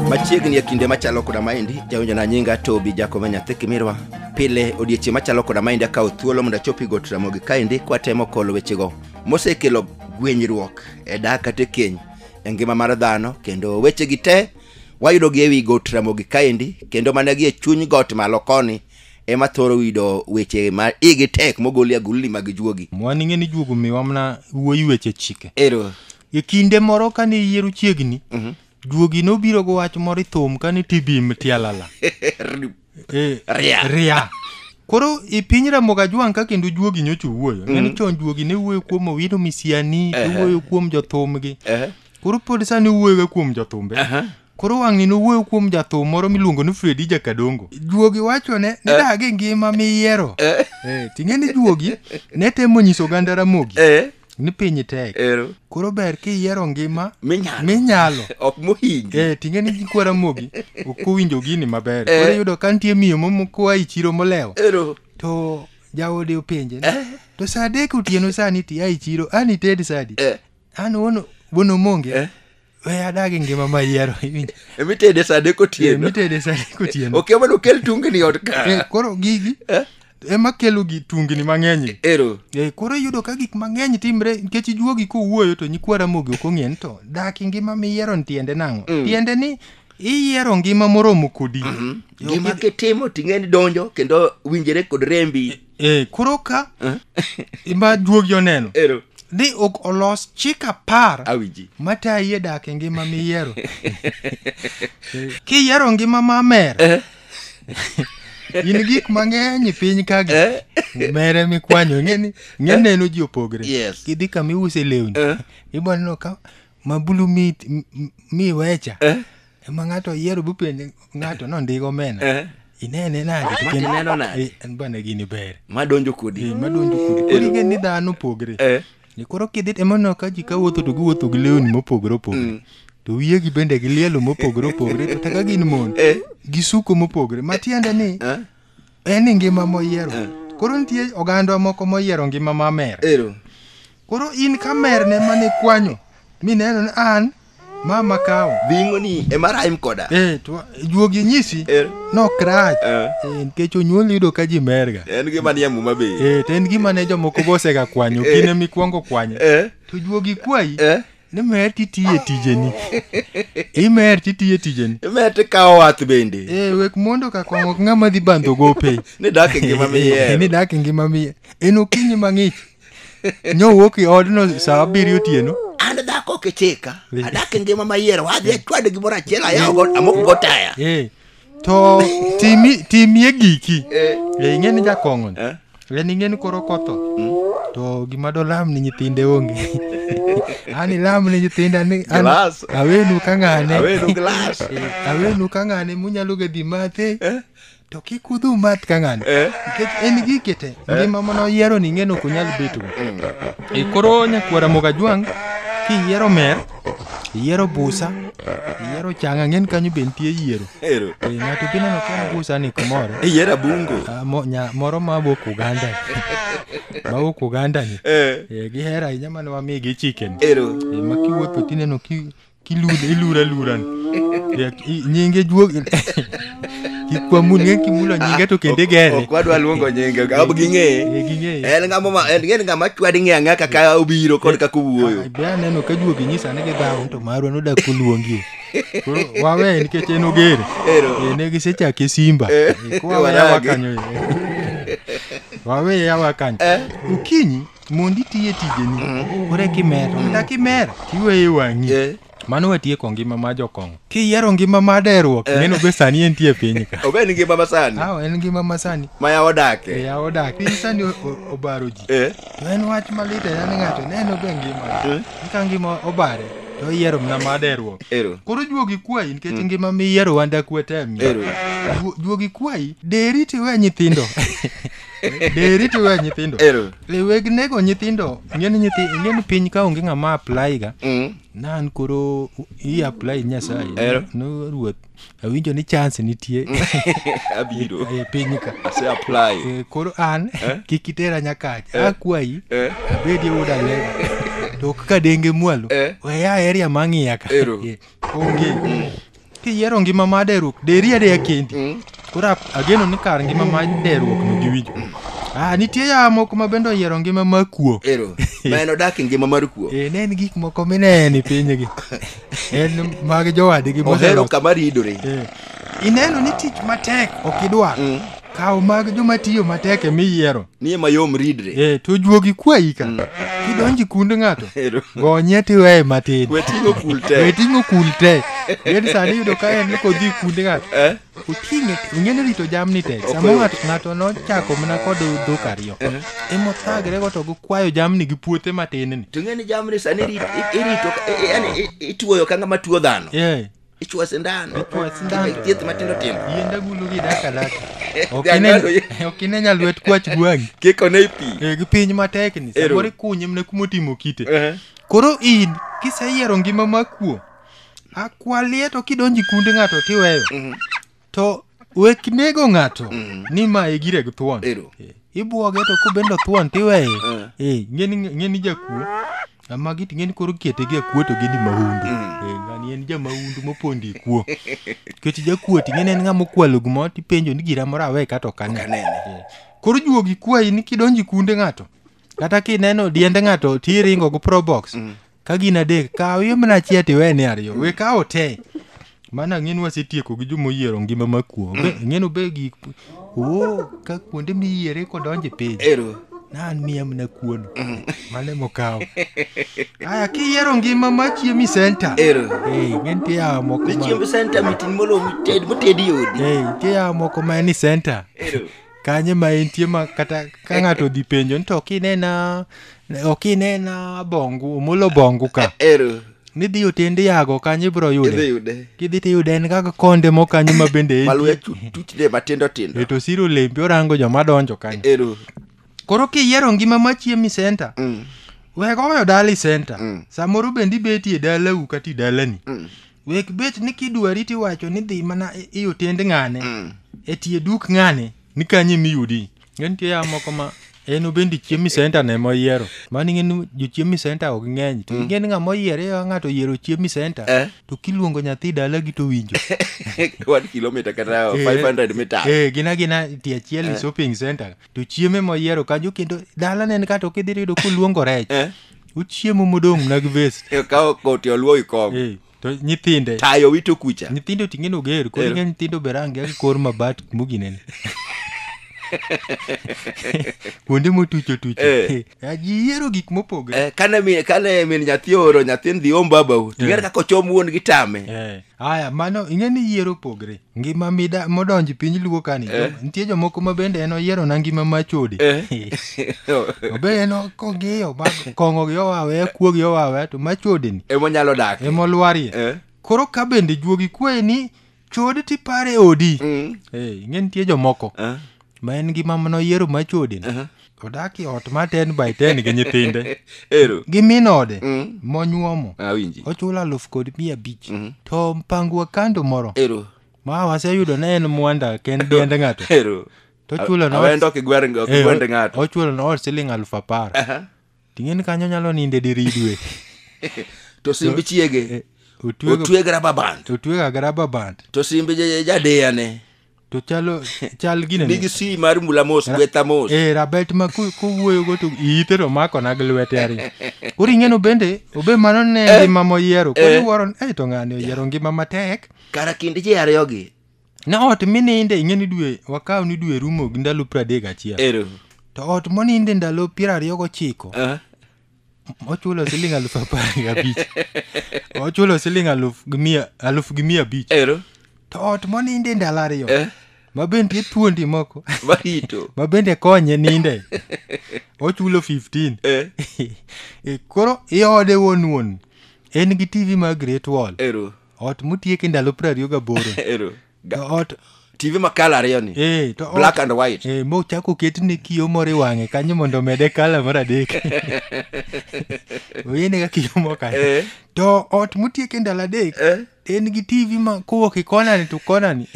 machiegni e kinde machalo koda maendi jawinjona nyinga tobi jakome nyathi kimirwa pile odiechieng' machalo koda maendi akawo thuolo mondo achopi got ramogi kaendi kwatemo kolo wechego mosekelo gwenyruok e dak kata e keny e ngima mar dhano kendo wechegi te Wayudogi e wi got Ramogi kaendi, kendo mana gi e chuny got malo koni ema thoro yudo weche ma igi tek mogol e agulni mag juogi. Mwan ing'e ni juogo miwa mana wuoyi weche chike. Ero. E kinde moro kane yiero chiegni, juogi nobiro gi wach moro i thum kane tibim tialala. Eh, Ria. ria koro e piny ramogi ajwang' ka kendo juogi nyocha owuoyo neno chon juogi ne wuoyo kuom owino misiani to Ehe. wuoyo kuom jothumgi Eh, koro pod sani wuoyoga kuom jothumbe aha. koro wang'ni nowuoyo kuom jathum moro miluongo ni fredi jakadongo juogi wacho ne nidag e ngima miyiero Eh, Eh, ting'e ni juogi ne temo nyiso oganda ramogi eh. ni piny tek ero koro ber kiyiero ngima minyalo minyalo ok mohingi eh tinge ni kwara mogi ok owinjo gini maber Eh. koro yudo ka nitie miyo momokoa i chiro molewo ero to jaode openje ni, Eh. to saa adek otieno sani ti a i chiro an ited sadi eh an wono wono monge Eh. we adagi ngima mayiero iwinjo emitede sa adek otieno mitede sani kotieno ok emano kel tungni ot Eh, ka koro gigi Eh? ema kelo gi tungni mang'eny ero Eh, koro iyudo ka gik mang'eny timre nikech ijuogi kowuoyo to nyikwa ramogi ok ong'e ni to dak i ngima miyiero ni tiende nang'o tiende ni iyiero ngima moromo kodi gima kitimo ting'e ni donjo kendo winjere kod rembi Eh, koro ka ma duogi oneno Ero. ni ok olos chik apar Awiji. matayi e dak e ngima miyiero kiyiero ngima mamer Eh. in gik mang'eny e piny kagi Eh. mere mikwanyo ing'eni ng'e neno ji opogre Yes. kidhi kama iuse lewni Eh. ibo neno ka ma bulu mi, mi- mi wecha Eh? ema ng'ato oyiero bupenje ng'ato nondiko omena Eh? inene nade Ma Kendo- ineno nade? Eh, en bana gini ber madonjo kodi Eh, madonjo kodi kodi ing'e ni dhano opogre Eh, ni koro kidhi emono ka ji ka wuotho to giwuotho gi lewni mopogore opogore to wiyegi bende gi lielo mopogore opogore to taka gin mon Eh. gi suko mopogore matiende ni eh? en ni ngima moyiero koro nitie oganda moko moyiero ngima mamer ero Koro in kamerne mane ikwanyo mineno ni an ma makawo. Bingo ni ema rhyme koda. Eh, to juogi nyisi Eh. nok rach. Eh. Eh, nikech onyuol yudo ka ji merga. En gima ni amuma be. Eh, to en gima ne jomoko bosega kwanyo, Eh. gine mikwongo kwanyo. Eh. To juogi kwayi Eh. ni mer titiye tijeni. Imer titiye tijeni. Mete kawo wath bende. Eh, wek mondo ka kwang'o ok ng'ama dhi bandho gope. Ni dak e ngima miyiero. Eh, Ni dak e ngima miyiero. En okinyi mang'ich. Nyowuok i odno saa abiriyo otieno. An dhako ok ichika. Adak e ngima mayiero. Adhi achwad gimoro achiel ayawo amoko go taya. Eh. To timi timie giki. Eh, eh ing'e ni jakong'o. Eh. En ing'e ni koro kotho. Hmm. To gima do lam ni nyithinde onge. Ani lam ni nyithinda ni an awenu ka ng'ane. Awenu glass. Eh, awenu ka ng'ane munyalo gedhi mathe. Eh. to kik udhu math ka ng'ani nikech en gike te ngima mana oyiero ni ing'eno ok onyal beto e koro nyakwara mogajwang' kiyiero mer iyiero busa iyiero changa ng'en kanyo be nitie yiero Ero. e ng'ato be neno ka en busa ni kumoro Iyiero abungo. Ah, mo- nya- moro ma wuok uganda ma wuok uganda ni Eh. Eh, gihero ahinya mane wamigi chicken Ero. Eh, ma kiwuotho tineno ki Kilure, ilure, luran. Ya, i- Nyinge juog. Kikwamun nge kimulo nyinge to kende gere. Ok wadwa luongo nyinge, ok ging'eye. Eh, ging'eye. En ng'ama ma- en en ng'ama chwadi ng'e ang'e kaka obiro kod kaka owuoyo. Ai, Be aneno ka juogi nyisa ni gidhawo to marwa nodak koluongie. Koro wawe nikech en ogere. Ero. Eh, Ne gisechake Simba. Eh, Eh, Kwa wawe yawa waragi. kanyo. eh. Wawe yawa kanyo. Ukinyi mondo itiye tijeni koro eka imer ka kimer tiweye wang'i Eh. mano watieko ngima ma jokong'o kiyiero ngima ma deruok neno be sani entie e piny ka Obe ni ngima masani. aw en ngima masani Ma ya odake. eya odak piny sani o- o- obaro ji Eh. to en wach malit ahinya ni ng'ato neno be ngima Eh. ka ngima obare to iyiero mna ma deruok Ero. koro juogi kwayi nikech ngima miyiero wanda kwete Ero. juogi kwayi deri tiwe nyithindo deri to iwe nyithindo Ero. le weg nego nyithindo ing'e ni nyithi ing'e ni piny ka onge ng'ama apply ga Mm. nan koro i apply nyasaye Ero. no ruoth awinjo ni chance nitie Abiro. e piny ka Ase apply. Eh, koro an kik itera nyakacha akwayi Eh. abedi oda lego to ok ka denge mwalo Eh. weya area mang'iya ka Ero. Eh, onge Kiyiero ngima ma deruok, deri adeya kendi. Mm. Koro ageno ni kar ngima ma deruok no giwinjo. Ah, nitie ya moko ma bende oyiero ngima ma kuo. Ero, ma en odak e ngima mar kuo. Eh, ne en gik moko mineno e pinygi. En mag jowadgi moseloso. Ohero kama ridore. Eh. Ineno ni tich matek ok idwar. Mm. kaw mag joma tiyo matek ema iyiero Niye mayom ridre. eh, to juogi kwayi ka kidonji kund ng'ato Ero. gonye tiweye matin We ting'o kul te. we ting'o kul te gedi sani iyudo ka en ni kodhi kund ng'ato Eh? oting'e ing'eni rito jamni tek Ok samo oyot. ng'ato ng'ato nochako mana kod dhok ariyo emothagre go to gikwayo jamni gi puothe matin ni To ng'eni jamni sani rit- i- irito ka- i- i- yani i- ituoyo ka ng'ama tuo dhano. Eh, ichwa sindan Ichwa sindan. Kendo thieth matindo tindo yienda gulu gi daka daka Ok Dhiang' ine- galo- ok ine nya lwet kwach gwang' kiko ne pi Eh, gi piny matek ni Ero. samoro ikunye mne kuma otimo kite Ehe. koro in kiseyiero ngima makuo akwalie to kidonji kundi ng'ato tiweyo Mhm. to wek nego ng'ato ni ma e gire gi thuon Ero. Eh, ibwoge to kobendo thuon tiweye Eh, ng'eni ng'eni jakuo ama giti ng'eni koro kete gi akuo to gini mahundu Eh, ngani en jamahundu mopondi kuo kech jakuo ti ng'eni en ng'ama okwalo gimo tipenjo ni gira moro awe kato kane Okanene. Eh, koro juogi kwayi ni kidonji kunde ng'ato kata kineno diende ng'ato tiringo go probox ka gin adek kaw iwe mana achiel to iwene ariyo we kawo te mana ng'eni wasetieko gi joma oyiero ngima ma kuo ng'eni obe gik o ka kuonde miyiere kodonje piny ero nan miya mana kuono mane mokawo aya kiyiero ngima ma chiemi senta ero Ei, ng'eni tiyawo moko ma- nichiemb senta mitin molo mited motedi odi Ei, tiyawo moko ma ni senta ero kanye ma entie ma kata ka ng'ato odhi penjo ni to ok inena ok inena bongu omolo bongu ka ero nidhi otend yago kanye ibro idhi yude yude kidhi tiyude en kaka konde mo kanyo ma bende entie. maluya tuchne matindo tindo eto siro lembi orango joma donjo kanyo ero koro kiyiero ngima ma chiemi center Mm, wego oyo dali center Mm. samoro bende ibetie dalau kata idalani mm. wek bet ni kidwari tiwacho ni dhi mana i- i otend ng'ane Mm. e tie duk ng'ane ni kanye miyudi ng'e nitie ya moko ma en obendi chiemi senta ne moyiero mani ng'e ni jochiemi senta ok ng'eny to ing'e ni ng'ama oyiere ya ng'ato oyiero chiemi senta Eh. to kiluongo nyathi dalagi to winjo one kilometer kata Eh, 500 meters eh, gina gina tie achiel ni shopping center to chiemo ema oyiero kanyo kendo dalane en kata ok idhi yudo koluongo rech Eh. ochiemo modong' mna gi vest Eh, kawo koti oluowi kong Eh, to nyithinde tayo wito kucha nyithindo ting'e noger koro Ero. ing'e nyithindo be rangi gi kor mabat muginene kuonde motucho Eh. tucho ajiyiero gik mopogre Eh, kane mi- kane min nyathi ooro nyathi dhi om babau ting'ere kaka ochom wuon gi tame Eh. Aya, mano ing'e ni yiero pogre. Ngima mida modonj piny luo kani. Eh. Nitie jomoko ma bende en oyiero na ngima ma chode. Eh. Obe en kong'iyo ma kong'o gi owawe, kuo gi owawe to ma chode ni Ema nyalo dak. ema olwarie. Eh. Koro ka bende juogi kwayi ni chode tipare odi. Mm. Eh, ing'e nitie jomoko. Eh. ma en gi mama noyiero ma chode ni odak e ot ma ten by ten gi nyithinde ero gi min ode Mm. monyuomo awinji ochulo aluf kod mia abich Mhm. to mpangwa kando moro ero ma waseyudo ne en mwanda ken diend ng'ato ero to chulo na awendo kigwar Eh, kigwende ng'ato ochulo na ot siling aluf apar Aha. Ting'e ni kanyo nyalo ninde diridwe. to simb chiege Otwego otweg raba band otwego agraba band. to simb ja- jadeya ne To chalo chal gine. nigi si mar mula mos gwetha mos Eh rabet ma ku- kuwuoyo go to ite to mako na gi lwete ari. Koro ing'eno bende obe mano ne ngima moyiero. Koro iwuoro ni eh to ng'ani oyiero ngima matek. kara kind ji ariyogi Ne ot mininde ing'e ni dwe wakaw ni dwe rumo gi ndalo piero adek gachiel. Ero. To ot moninde ndalo piero ariyo gochiko Ah. ochulo siling aluf apar gi abich. Ochulo siling aluf gi mia aluf gi mia abich. Ero. To ot moninde ndalo ariyo Eh. ma bende thuondi moko Marito. ma bende konye ninde ochulo 15. Eh. E, Koro iode wuon wuon en gi TV mar Great Wall. Ero. ot motiek e ndalo piero ariyo gaboro Ero. to Ga- ot TV ma kala ariyo ni. eh, to ot- Black and white. eh, mochako ketne kiyo moro e wang'e kanyo mondo omede kala mar adek oyene ka kiyo moko kanyo. Eh. to ot motiek e ndalo adek Eh. en gi tv ma kowuok e konani to konani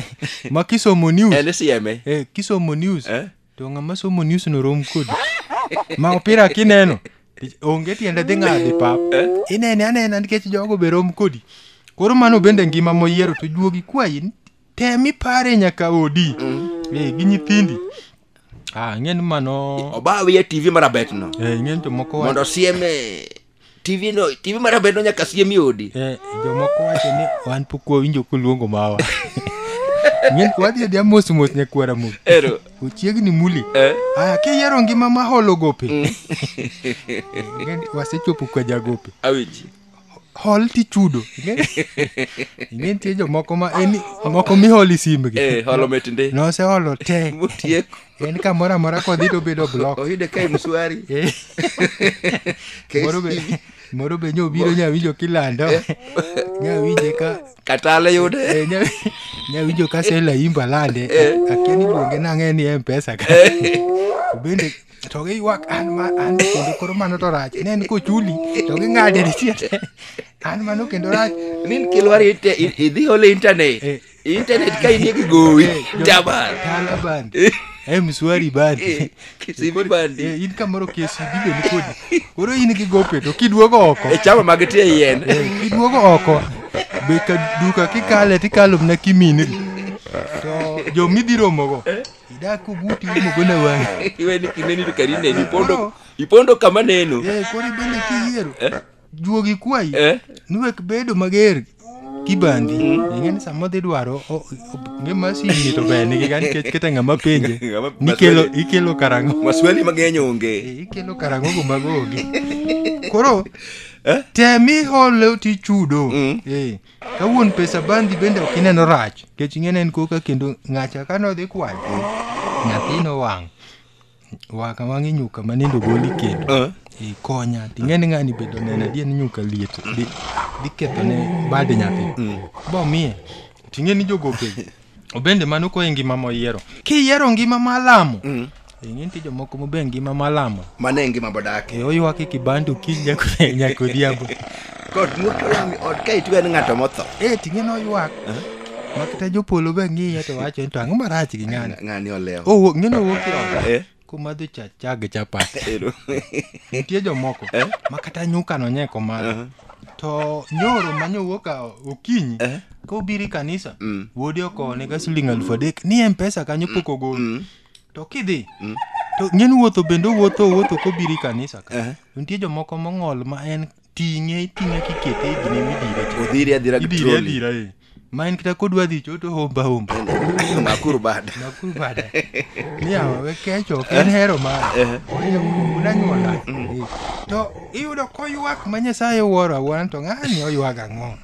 ma kisomo news En sieme. eh, kisomo news Eh. To ng'ama somo news no rom kodi. Ma opira kineno. Onge tiende dhi ng'adi pap. Inene anena nikech jogo be rom kodi. Koro mano bende ngima moyiero to juogi kwayi ni tem ipare nyaka odi. Eh, gi nyithindi. Ah, ng'en mano. Obawi ya TV marabet no. Eh, ng'en to moko Mondo sieme tv no tv mar abed no nyaka siem e odi Eh, jomoko wacho ni wan pok wawinjo koluongo mawa Ng'eny wadhi adhiya mos mos nyakwara mo ero ochiegni muli eh? aya kiyiero ngima ma holo gope Ng'eny wasechopo kwa jagope awinji hol tichudo ing'e nitie jomoko ma en moko miholi simbgi eh, holo mit ndi noseholo te motieko en kamoro amora kodhi to obedo blok oyude ka mswari Eh, Kesi. moro be moro be nyo obiro nyawinjo kilando nyawinje ka katale yude eh, nya- nyawinjo ka sela imba lande akia ni luonge nang'e ni mpesa ka To bende to giywak an ma an kendo koro mano to rach ne en kochuli to ging'ade ni tiende an mano kendo rach min kilwari ite- i- idhi ole internet Eh, internet ka inie kigowi jabar Tala band. Eh, mswari band. Eh, kisibi bandi. Eh, in kamoro KCB be ni kodi. Koro in gi gope to kiduogo oko. e chama mag tie yien Eh, kiduogo oko. Be ka duka kikale tikalo mna kimini. To jo midhiromo go. Idak kuguti mogo na wang. iwe ni kineni to karineni ipondo ipondo kama neno Eh, koro ibende kiyiero. juogi kwayi Eh. ni wek bedo mager kibandi ing'eni sama dhi dwaro o- o- nge masini to ber nigi ga nikech kete ng'ama penje Ng'ama- nikelo maswali. ikelo karang'o maswali mang'eny onge Eh, ikelo karang'o go mago onge koro Eh? temi hole tichudo Mm. Eh, ka wuon pesa bandi bende ok ineno rach nikech ing'eni en koka kendo ng'acha ka nodhi kwayo nyathino wang' Wa kama ng'i nyuka ma nindo goli kendo. Eh. I konya. Ting'e ni ng'ani bedo nena dien nyuka liet. Di, di ketho ne bad nyathi. Mm. Bo miye. Ting'e ni jogo ke. Obende mano ko ngima mo yiero. Ki yiero ngima malamo. Mm. Ingin ti jomoko mo be ngima malamo. Mane ngima bodake. E oywa ki kibandu ki nyako nyako diabo. Kot mur to lami ot ka itugo en ng'ato motho. Eh, ting'e noywak. Ma kata jopolo be ng'iye to wacho ni to ang'o marach gi ng'ani. Ng'ani olewo. Owuok, ng'eno owuok e ot. Eh, Komadho cha cha gi chapat. ero. Nitie jomoko Eh? ma kata nyuka nonye komadho. To nyoro ma nyowuok a- okinyi Eh? kobiro e kanisa Mm. wuode okowonega siling alufu adek ni mpesa kanyo pok ogol to kidhi to ng'en wuotho bende owuotho owuotho kobiro e kanisa ka Eh. to nitie jomoko mong'ol ma en ting'e iting'e kikete igni midire cha. Odhiri adhira gi idire trolley. adhira eh. ma en kata kodwa dhi choto homba homba makuru bada nakuru bada niyawa we kecho ok en hero mara unanyuola to iyudo koywak ma nyasaye wuoro awuora to ng'ani oywaga ang'o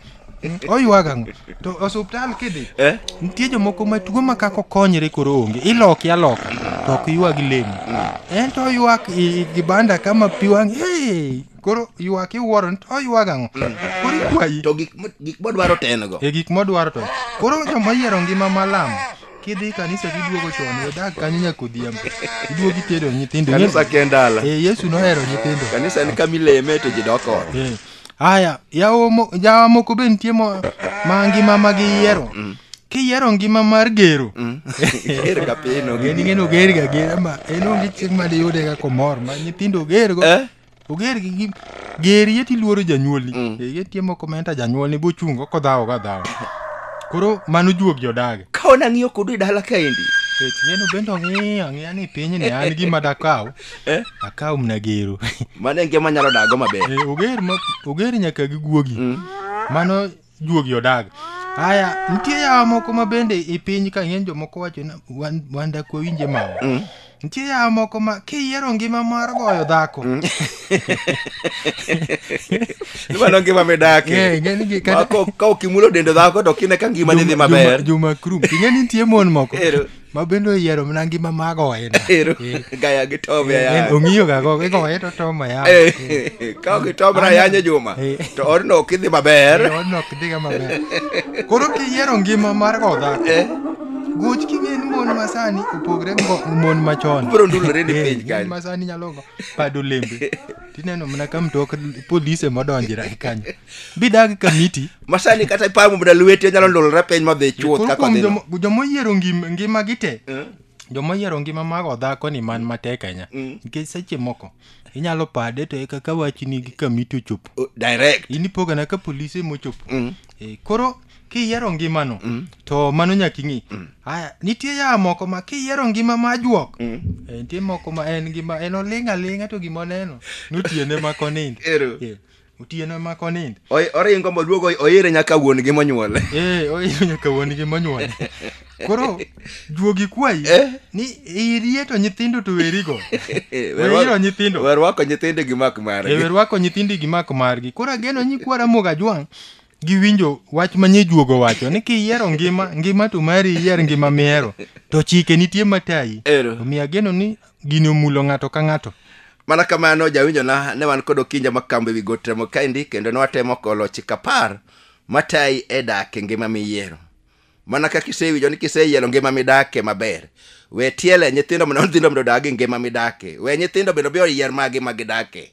Mm, oyuag ang'o to osuptal kidhi eh? nitie jomoko ma tuo ma kako konyre koro onge iloki aloka to ok yuag lemo mm. en to oyuak gibanda kama pi wang' hey! koro yuak iwuoro ni to oyuag ang'o mm. koro ikwayi to gik modwaro to en go e gik modwaro to koro joma yiero ngima malamo kidhi kanisa tiduogo chon wedag kanyo nyaka odhiambo iduog itedo nyithindo kanisa kendala e eh, yesu nohero nyithindo kanisa en kamileme to ji doko eh. Aya, yawo mo- yawa moko be nitie mo- ma ngima ma giyiero. Kiyiero ngima mar gero. Ger ga piny ok Gini ngeno oger ga gera ma en onge chieng' ma diyude ga komor ma nyithindo oger go. Eh? Oger gi gi- ger yeti luoro janyuolni. Mm. Ger yeti mo komenta janyuolni bochungo kodhawo ga dhawo. Koro mano juog jodag. Ka ona ng'iyo kodu e dala kaendi. Kech ngeno bende ong'iyo ang'iya ni piny ni an gima dakaw. Eh? akaw mna gero mano en ngima nyalo dago maber Eh, oger ma- oger nyaka gi guogi mano juogi odag haya nitie yawa moko ma bende i piny ka ng'eny jomoko wacho ni wan- wan dak wawinje mawa nitie yawa moko ma kiyiero ngima mar goyo dhako mano ngima midake Eh, ng'e ni gi- kata- Ma ko- ka okimulo dendo dhako to kine ka ngima ni dhi Juma- maber Juma- Juma Krum. Ing'e ni nitie mon moko Ero. ma bende oyiero mana ngima ma goye na. Ero, Eh, gaya gi Tom eh, ayany. ong'iyo ga go igoye to tom ayany Eh, ka ok itomra ayany e juma Eh. to odno ok idhi maber Eh, odno ok dhiga maber koro kiyiero ngima mar go dhako Eh, goch king'e ni mon masani opogre gi ngo- mon machon Bro, ndulore ni Eh, piny mon kanyo. masani nyalo go pado lembe tineno mana ka mtok polise modonjira kanyo bidag kamiti masani kata ipamo mana lweti onyalo ndolore piny madhi chuoth Koro kaka kuom dhino jomo- jomoyiero ngim- ngimagi te Eh? jomoyiero ngima mag odhako ni man matek ahinya Mm. nikech seche moko inyalo pade to eka ka wachni gi kamiti ochopo Oh, direct in ipogana ka polise mochopo Mm. Eh, koro kiyiero ngimano to mano nyaka ing'i aya nitie yaa moko ma kiyiero ngima ma juok Eh, nitie moko ma en ngima en oling' aling'a to gima oneno notiene ma konind Ero. Eh, Otieno ema konind. Oi- Oringo moluogo oire nyaka wuon gi monyuole. Ee, oiro nyaka wuon gi monyuole. Koro juogi kwayi Eh. ni irie to nyithindo to werigo. Wero nyithindo. Werwako nyithindo gi mak margi. Ewe rwako nyithindi gi mak margi. Koro ageno nyi kwara moga jwang' giwinjo wach ma nyijuogo wacho ni kiyiero ngima ngima to mari iyier ngima mihero to chike nitie matayi Ero. omiyo ageno ni gini omulo ng'ato ka ng'ato mana kamano jawinjona ne wan kod okinja makambo ewi got remo kaendi kendo ne watemo kolo chik apar matayi e dak e ngima miyiero mana kaka isewinjo ni kiseyiero ngima midake maber we tiele nyithindo mondo nyithindo mondo odag e ngima midake we nyithindo bende obi oyier magi ma gidake